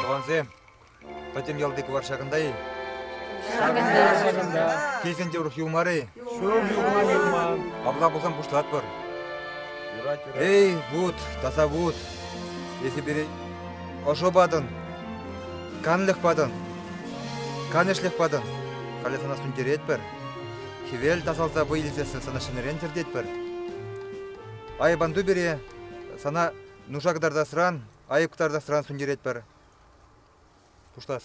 Тӑвансем, пӗтӗм ялти кӑвар ҫакӑнта-и? Ҫакӑнта. Килсен те урӑх юлмар-и? Ҫул юлма юлман. Апла пулсан пуҫлатпӑр. Юрать, юрать. Эй, вут, таса вут, эсӗ пире ӑшӑ патӑн, канлӗх патӑн. Канӑҫлӑх патӑн, халӗ сана сӳнтеретпӗр. Хӗвел тасалса вӑй илсессӗн сана ҫӗнӗрен тӗртетпӗр. Айӑпанту пире сана нуша кӑтартасран, айӑп кӑтартасран сӳнтеретпӗр. Пуҫлас.